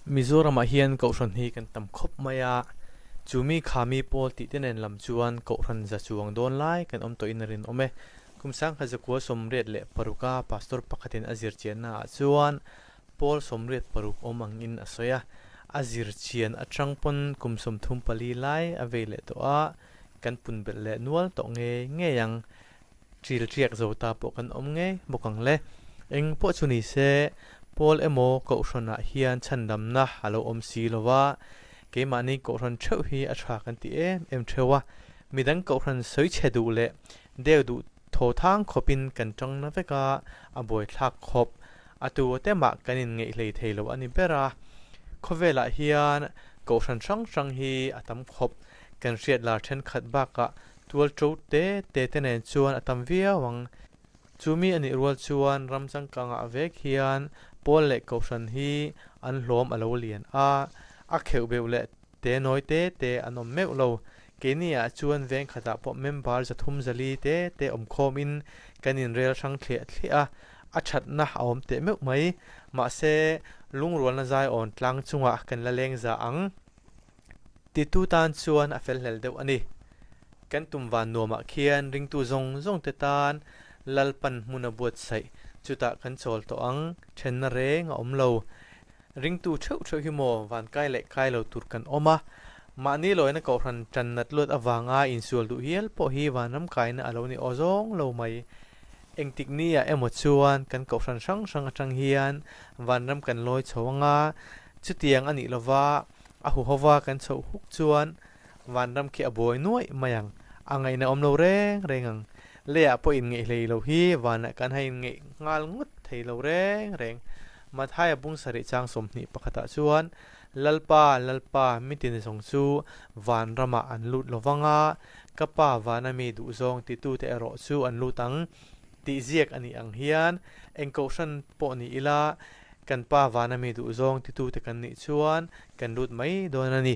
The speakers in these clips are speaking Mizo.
Mizoram ah hian Kohhran hi kan tam khawp mai a, chu mi kha mi pawl tih te nen lam chuan Kohhran za chuang dawn lai kan awm tawh in a rinawm e. Kum Sangha Zakual Sawmriat leh paruk a Pastor pakhat in a zir chian na ah chuan Paul Sawmriat paruk awm ang in a sawi a, a zir chian atang pawn kum sawmthum pali lai a vei leh tawh a, kan pun belh leh nual tawh ngei ngei ang. Chilchiak zo ta pawh kan awm ngei bawk ang le. Eng pawh chu ni se, Paul emaw Kohhranah hian chhandamna a lo awm si lo va, keimahni Kohhran theuh hi a tha kan ti em em theu a, midang Kohhran sawi che duh leh deu duh thothang khawpin kan tangna veka a buaithlak khawp. A tu a te mah kan inngeihhlei thei lo a ni ber a. Khawvelah hian Kohhran hrang hrang hi a tam khawp, kan hriatlar thenkhat bakah Tual to te te te nen chuan a tam viau ang. Chu mi a nih rual chuan ram changkangah vek hian Pawl leh Kohhran hi an hlawm a lo lian a, a kheuh beuh leh te nawi te te an awm meuh lo. Keini ah chuan veng khatah pawh member za thum za li te te awm khawm in kan in rel hrang thliah thliah a, a thatna a awm teh meuh mai. Mahse, lungrualna zaiawn tlang chungah kan la leng za ang. Titu tan chuan a felhnel deuh a ni. Kan tum van nuamah khian ringtu zawng zawng te tan Lalpan hmuna buatsaih chutah kan chawl tawh ang, ṭhenna reng a awm lo. Ringtu ṭheuh ṭheuh hi maw van kai leh kai lo tur kan awm a, mahni lawina kohhran ṭan nat luat avanga insual duh hial pawh hi vanram kaina a lo ni aw zawng lo mai. Engtiknia emaw chuan kan kohhran hrang hrang aṭang hian vanram kan lawi chho anga, chutiang a nih lova, A hu hova kan chhoh huk chuan Vanram khi a buai nuaih mai ang. A ngaih na awm lo reng reng ang. Leah pawh inngeih hlei lo hi Vanah kan ha inngeih nghal ngut thei lo reng reng. Mathai a bung sarih chang sawmhnih pakhatah chuan Lalpa, Lalpa, mi ti ni zawng chu Vanramah an lut lo vang a, ka pa Vanami duhzawng titute erawh chu an lut ang. Tih ziak a nih ang hian eng kohhran pawh ni ila kan Pa vana mi duhzawng titute kan nih chuan kan lut mai dawn a ni.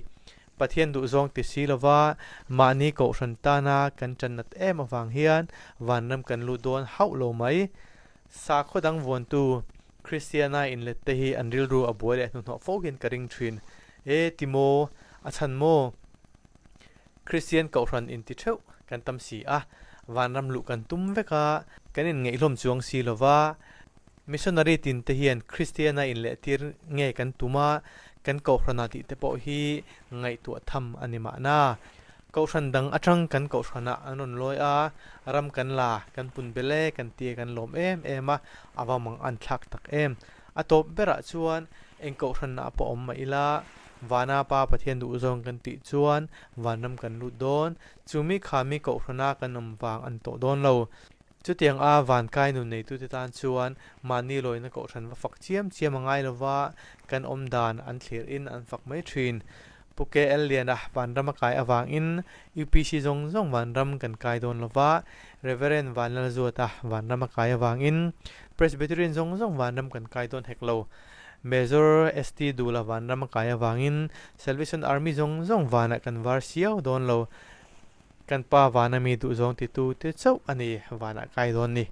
Pathian duhzawng ti si lova mahni kohhran tana kan channat em avang hian vanram kan lut dawn hauh lo mai. Sakhaw dang vuantu Kristiana inlette hi an rilru a buai leh a hnuhnawh fohin ka ring thin e ti maw, a chhan maw? Kristian kohhran inti theuh kan tam si a, vanram luh kan tum vek a, kan inngeihhlawm chuang si lo va. Missionary tinte hian Kristiana inlehtir nge kan tum a, kan kohhrana tihte pawh hi ngaihtuah tham a ni mahna. Kohhran dang atang kan kohhranah an rawn lawi a, ram kan la, kan pun bel e kan ti e kan lawm em em a, a vang mang a an thlak tak em. A tawp berah chuan eng kohhranna pawh awm mah ila, vana Pa Pathian duhzawng kan tih chuan vanram kan lut dawn. Chumi kha mi kohhrana kan awm vang an tawh dawn lo. Chutianga van kai nun neitute tan chuan mahni lawina kohhran va fak chiam chiam a ngai lova, kan awm dan an thlir in an fak mai thin. Pu KL Liana vanram a kai avangin UPC zawng zawng vanram kan kai dawn lo va, Rev. Van Lal Zuata vanram a kai avangin Presbyterian zawng zawng vanram kan kai dawn hek lo, Major ST Dula vanram a kai avangin Salvation Army zawng zawng vanah kan var siau dawn lo, kan pa van a mi duhzawng ti tu te chauh a ni vanah kai dawn ni.